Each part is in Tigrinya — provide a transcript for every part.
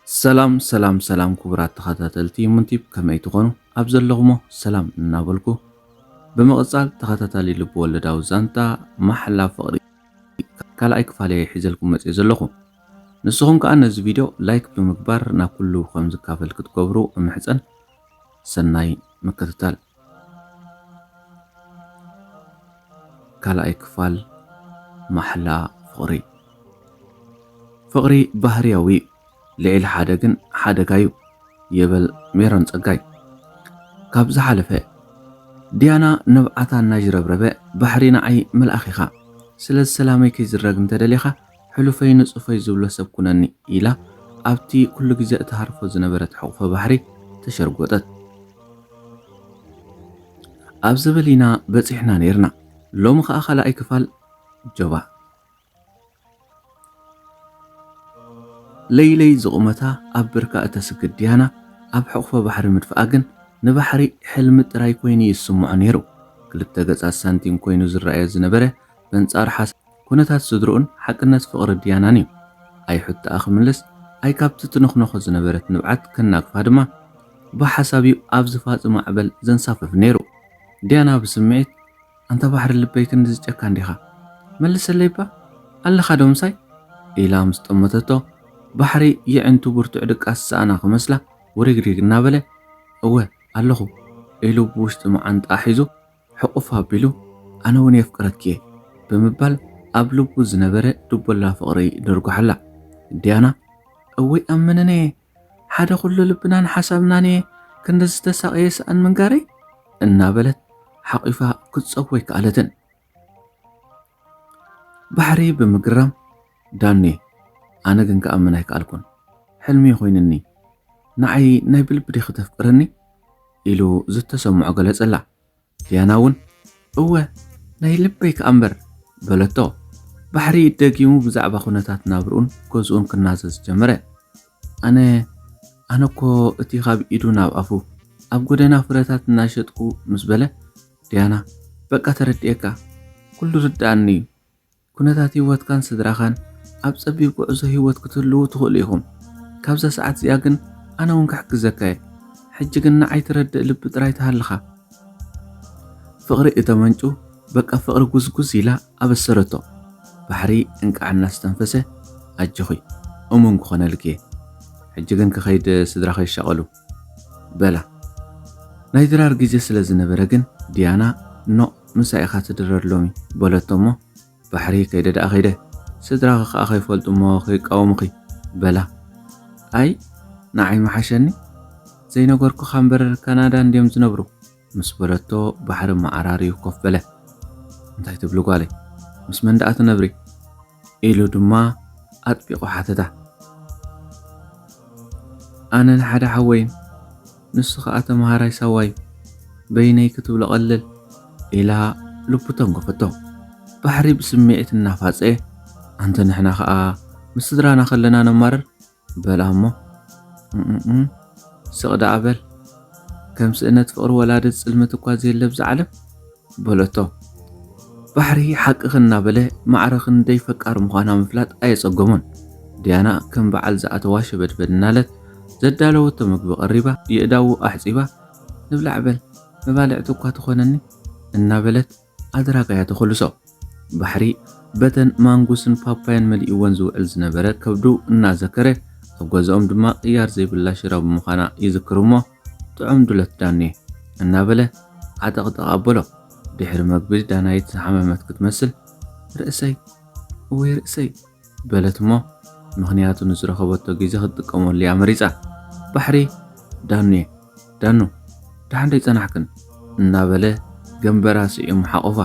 ሰላም ሰላም ሰላም ክቡራት ተኸታተልቲ ሙንቲብ ከመይ ትኾኑ ኣብ ዘለኹሞ ሰላም እናበልኩ ብምቕጻል ተኸታታሊ ልቢ ወለዳዊ ዛንታ ማሕላ ፍቕሪ ካልኣይ ክፋለየ ሒዘልኩም መጽየ ዘለኹ ንስኹም ከኣ ነዚ ቪድዮ ላይክ ብምግባር ናብ ኩሉ ከም ዝካፈል ክትገብሩ እምሕጸን። ሰናይ ምክትታል። ካልኣይ ክፋል ማሕላ ፍቕሪ። ፍቕሪ ባህርያዊ እዩ፣ ልዕሊ ሓደ ግን ሓደጋ እዩ ይብል ሜሮን ጸጋይ ካብ ዝሓለፈ። ዲያና ንብዓታ እናዥረብረበ ባሕሪ ንዓይ መልኣኽ ኢኻ፣ ስለዚ ሰላመይ ከይዝረግ እንተደሊኻ ሕሉፈይ ንጹፈይ ዝብሎ ሰብ ኩነኒ ኢላ ኣብቲ ኩሉ ግዜ እትሃርፎ ዝነበረት ሕቝፎ ባሕሪ ተሸርጐጠት። ኣብ ዘበል ኢና በጺሕና ነይርና። ሎሚ ከኣ ካልኣይ ክፋል ጆባእ። ለይለይ ዝቑመታ ኣብ ብርካ እተስግድ ዲያና ኣብ ሕቝፎ ባሕሪ ምድፍኣ ግን ንባሕሪ ሕልሚ ጥራይ ኰይኑ እዩ ዝስምዖ ነይሩ። ክልተ ገጻት ሳንቲም ኰይኑ ዝረኣዮ ዝነበረ በንጻሩ ኩነታት ስድርኡን ሓቅነት ፍቕሪ ድያናን እዩ። ኣይሑትኣ ክምልስ፣ ኣይ ካብቲ ትንኽኖኾ ዝነበረት ንብዓት ከናግፋ ድማ ብሓሳብ እዩ ኣብ ዝፋፅ ማዕበል ዘንሳፍፍ ነይሩ። ድያና ብስምዒት፣ ኣንታ ባሕሪ ልበይ ክንድዚ ጨካን ዲኻ? መልሰለይ'ባ! ኣለኻ ዶ ምሳይ? ኢላ ምስ ጠመተቶ፣ ባሕሪ የዒንቱ ብርቱዕ ድቃስ ዝሰኣና ክመስላ ውሪግሪግ እናበለ፣ እወ ኣለኹ ኢሉ ብውሽጢ መዓንጥኣ ሒዙ ሕቑፍ ኣቢሉ ኣነ ውን የፍቅረኪ'የ ብምባል ኣብ ልቡ ዝነበረ ድቦላ ፍቕሪ ደርጉሓላ። ዲያና እወይ ኣብ መነነ'የ ሓደ ኩሉ ልብናን ሓሳብናን'የ ክንዲ ዝተሳቐየ ስኣን ምንጋረይ እናበለት ሓቒፋ ክትጸቦ ኣይከኣለትን። ባሕሪ ብምግራም ዳኒ ኣነ ግን ክኣምን ኣይከኣልኩን ሕልሚ'ዩ ኮይንኒ ንዓይ ናይ ብልቢ ዲኺ ተፍቅርኒ ኢሉ ዝተሰምዖ ገለጸላ ዲያና እውን እወ ናይ ልበይ ከኣ እምበር በለቶ ባሕሪ ደጊሙ ብዛዕባ ኩነታት ናብርኡን ገዝኡን ክናዘዝ ጀመረ ኣነ ኣነ እኮ እቲ ካብ ኢዱ ናብ ኣፉ ኣብ ጎደና ፍረታት እናሸጥኩ ምስ በለ ዲያና በቃ ተረድኤካ ኩሉ ርድኣኒ እዩ ኩነታት ህይወትካን ስድራኻን ኣብ ጸቢብ ጉዕዞ ህይወት ክትህልዉ ትኽእሉ ኢኹም። ካብዛ ሰዓት እዚኣ ግን ኣነ እውን ክሕግዘካ እየ። ሕጂ ግን ንዓይ ትረድእ ልቢ ጥራይ ትሃልኻ። ፍቕሪ እተመንጩ በቃ ፍቕሪ ጉዝጉዝ ኢላ ኣበሰረቶ። ባሕሪ እንቃዕ እናስተንፈሰ ኣጆኺ እሙን ክኾነልኪ እየ። ሕጂ ግን ክኸይድ ስድራኺ ይሻቐሉ። በላ። ናይ ድራር ግዜ ስለ ዝነበረ ግን ዲያና ኖእ ምሳይ ኢኻ ትድረር ሎሚ በለቶ'ሞ ባሕሪ ከይደ ደኣ ከይደ ስድራኺ ከኣ ከይፈልጡ'ሞ ከይቃወሙኺ በላ። ኣይ ንዓይ ምሓሸኒ ዘይነገርኩኻ እምበር ካናዳ እንድዮም ዝነብሩ ምስ በለቶ ባሕሪ መዓራርዩ ኮፍ በለ። እንታይ ትብሊ ጓለይ ምስ መን ደኣ ትነብሪ? ኢሉ ድማ ኣጥቢቑ ሓተታ። ኣነን ሓደ ሓወይን፣ ንሱ ኸኣ ተመሃራይ ሳዋ'ዩ፣ በይነይ ክትብሎ ቀልል፣ ኢላ ልቡ ተንጎፈቶ። ባሕሪ ብስምዒት እናፋጸየ፣ ኣንተ ንሕና ኸኣ ምስ ስድራና ከለና ነማርር፣ በላ እሞ እም ስቕ ደኣ በል ከም ስእነት ፍቕሪ ወላዲ ጽልምት እኳ ዘየለ ኣብዛ ዓለም በለቶ። ባሕሪ ሓቅኺ እናበለ ማዕረ ክንደይ ፈቃር ምዃና ምፍላጥ ኣየጸገሞን። ዲያና ከም በዓል ዝኣተዋ ሸበድበድ እናለት ዘዳለወቶ ምግቢ ቀሪባ የእዳዉ ኣሕጺባ ንብላዕ በል መባልዕቲ እኳ ትኾነኒ እናበለት ኣደራካ እያ ተኾልሶ። ባሕሪ በተን ማንጉስን ፓፓያን መሊእወን ዝውዕል ዝነበረ ከብዱ እናዘከረ፣ ኣብ ገዝኦም ድማ ቅያር ዘይብላ ሽሮ ብምዃና ይዝክር'ሞ፣ ጥዑም ዱለት ዳኔ! እናበለ ዓጠቕጠቕ ኣበሎ። ድሕሪ መግቢ ዳናይት ዝሓመመት ክትመስል፣ ርእሰይ! እወይ ርእሰይ! በለት'ሞ ምኽንያቱ ንዝረኸበቶ ግዜ ክትጥቀመሉ'ያ መሪጻ። ባሕሪ ዳኑየ ዳኑ ደሓን ደይጸናሕክን? እናበለ ገምበራ ስዒሙ ሓቖፋ።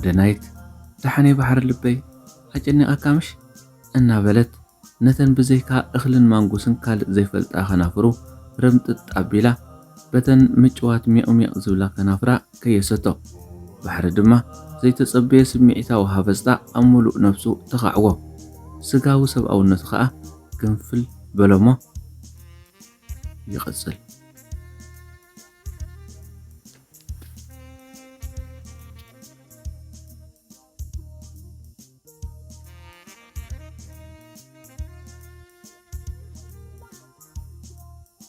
ደናይት ደሓን'የ ባሕሪ ልበይ ኣጨኒቓካ ምሽ? እናበለት ነተን ብዘይካ እኽልን ማንጉስን ካልእ ዘይፈልጣ ከናፍሩ ርምጥጥ ኣቢላ፣ በተን ምጭዋት ሜቕሜቕ ዝብላ ከናፍራ ከየሰቶ፣ ባሕሪ ድማ ዘይተጸበየ ስምዒታዊ ሃበጽታ ኣብ ምሉእ ነብሱ ተኻዕዎ። ስጋዊ ሰብኣውነቱ ከኣ ግንፍል በሎ'ሞ ይቕጽል።